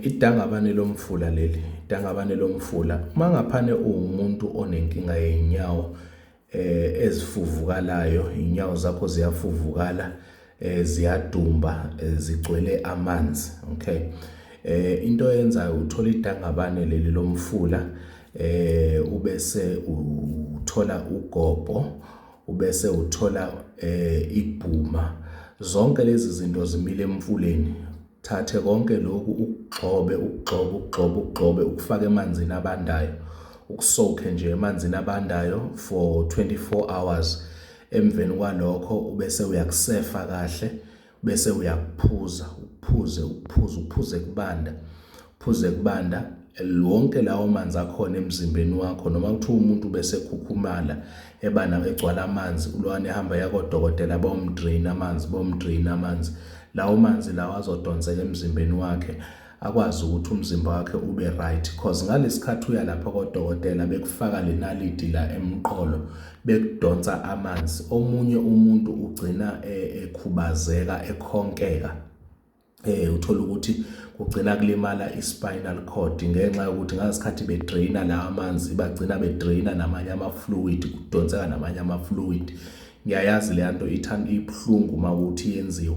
Idangabane lomfula leli, idangabane lomfula. Uma ngaphane uwumuntu onenkinga yey'nyawo eh ezifuvukalayo, iy'nyawo zakho ziyafuvukala, eh ziyadumba, eh, zigcwele amanzi, okay? Eh into yenzayo uthola idangabane leli lomfula eh ubese uthola ugobo, ubese uthola eh ibhuma. Zonke lezi zinto zimile emfuleni. Thathe konke lokhu ukugxobe ukugxobe ukugxobe ukugxobe ukufake emanzini abandayo ukusokhe nje emanzini abandayo for 24 hours emveni kwalokho ubese uyakusefa kahle bese uyakuphuza uphuze uphuze uphuze kubanda Phuze kubanda, wonke lawo manzi akhona emzimbeni wakho noma kuthiwa umuntu bese khukhumala ebana egcwala amanzi ulwane ehamba yakodokotela bomdrain amanzi bomdrain amanzi lawo manzi lawo azodonseka emzimbeni wakhe akwazi ukuthi umzimba wakhe ube right cause ngalesikhathi uya lapha kodokotela bekufaka lenaliti la emqolo bekudonsa amanzi omunye umuntu ugcina e, ekhubazeka ekhonkeka eh uthola ukuthi kugcina kulimala i-spinal cord ngenxa yokuthi ngasikhathi bedraina la amanzi bagcina bedraina namanye ama-fluid kudonseka namanye ama-fluid ngiyayazi le nto ithanda ibuhlungu uma ukuthi yenziwa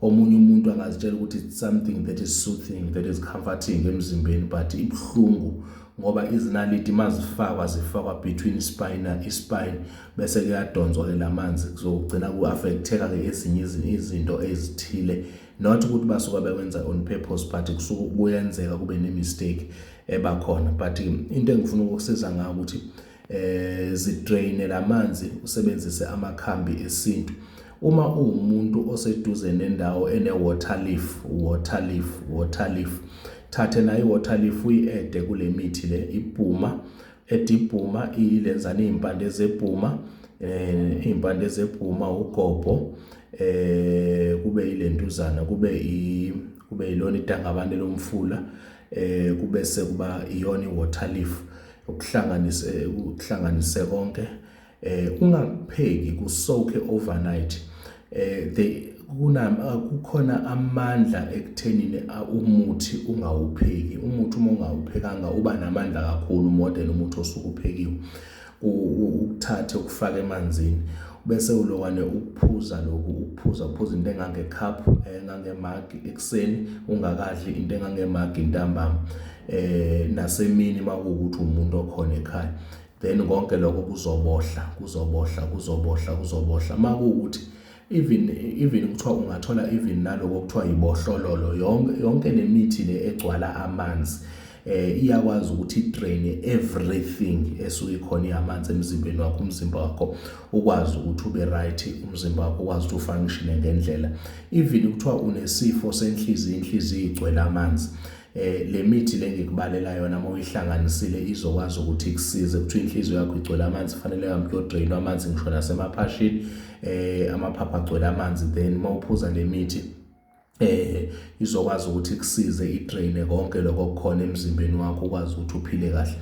omunye umuntu angazitshela ukuthi it's something that is soothing that is comforting emzimbeni but ibuhlungu ngoba izinaliti mazifakwa zifakwa between spina ispine bese kuyadonswa ke lamanzi kuzogcina kuaffecteka ke ezinye izinto ezithile not ukuthi basuka bekwenza on purpose but kusuke kuyenzeka kube ne mistake ebakhona but into engifuna ukusiza ngayo ukuthi eh zidraine lamanzi usebenzise amakhambi esintu uma uwumuntu oseduze nendawo ene water leaf water leaf water leaf thathe nayo i-water leaf uyi-ede kule mithi le ibhuma ede ibhuma ilenzana iy'mpande zebhuma um iy'mpande zebhuma ugobho um kube yilentuzana kube kube yilona idangabane lomfula eh kube sekuba iyona iwater leaf ukuhlanganise ukuhlanganise konke eh ungapheki kusoke overnight eh they kunama kukhona amandla ekuthenini umuthi ungawupheki umuthi uma ungawuphekanga uba namandla kakhulu model umuthi osukuphekiwe ukuthathe ukufake emanzini bese ulokwane ukuphuza lokhu ukuphuza uphuza into engangecup engangemagi ekuseni ungakadli into engangemagi intambama eh nasemini makuwukuthi umuntu okhona ekhaya then konke lokho kuzobohla kuzobohla kuzobohla kuzobohla makuwukuthi even even kuthiwa ungathola even naloko kuthiwa yibohlololo yonke yonke lemithi le egcwala amanzi eh iyakwazi ukuthi drain everything esuke khona iyamanzi emzimbeni wakho umzimba wakho ukwazi ukuthi ube right umzimba wakho ukwazi ukuthi ufunction ngendlela even kuthiwa unesifo senhliziyo inhliziyo igcwele amanzi eh le mithi lengikubalela yona uma uyihlanganisile izokwazi ukuthi ikusize kuthiwa inhliziyo yakho igcwele amanzi fanele uhambe uyodrainwa amanzi ngisho nasemaphashini eh amaphapha agcwele amanzi then uma uphuza le mithi eh izokwazi ukuthi ikusize idraine konke lokho okukhona emzimbeni wakho ukwazi ukuthi uphile kahle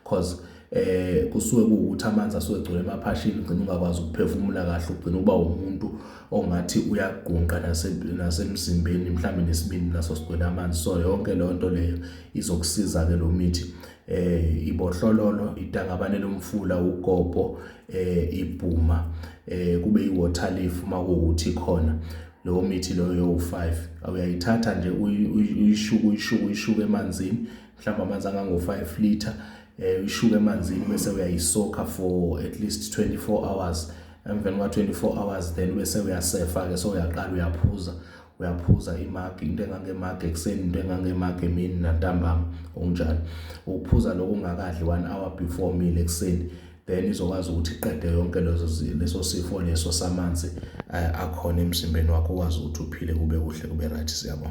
cause eh kusuke kuwukuthi amanzi asuke egcwele emaphashini ugcina ungakwazi ukuphefumula kahle ugcina uba umuntu ongathi uyagungqa nasemzimbeni mhlawumbe nesibindi naso sigcwele amanzi so yonke leyo nto leyo izokusiza ke lo mithi eh ibohlololo idangabane lomfula ugogo eh ibhuma eh kube iwater leaf uma kuwuthi khona leyo mithi leyo yo-5 uyayithatha nje uyishuke uyishuke uyishuke emanzini mhlawumbe amanzi angango-5 liter eh ishuka emanzini bese uyayisoka for at least 24 hours emveni kwa 24 hours then bese uyasefa ke so uyaqala uyaphuza uyaphuza imagi into engangemagi ekuseni into engangemagi emini nantambama okunjalo ukuphuza lokho ungakadli 1 hour before meal ekuseni then izokwazi ukuthi iqede yonke lezo leso sifo leso samanzi eh, akhona emzimbeni wakho ukwazi ukuthi uphile kube kuhle kube right siyabonga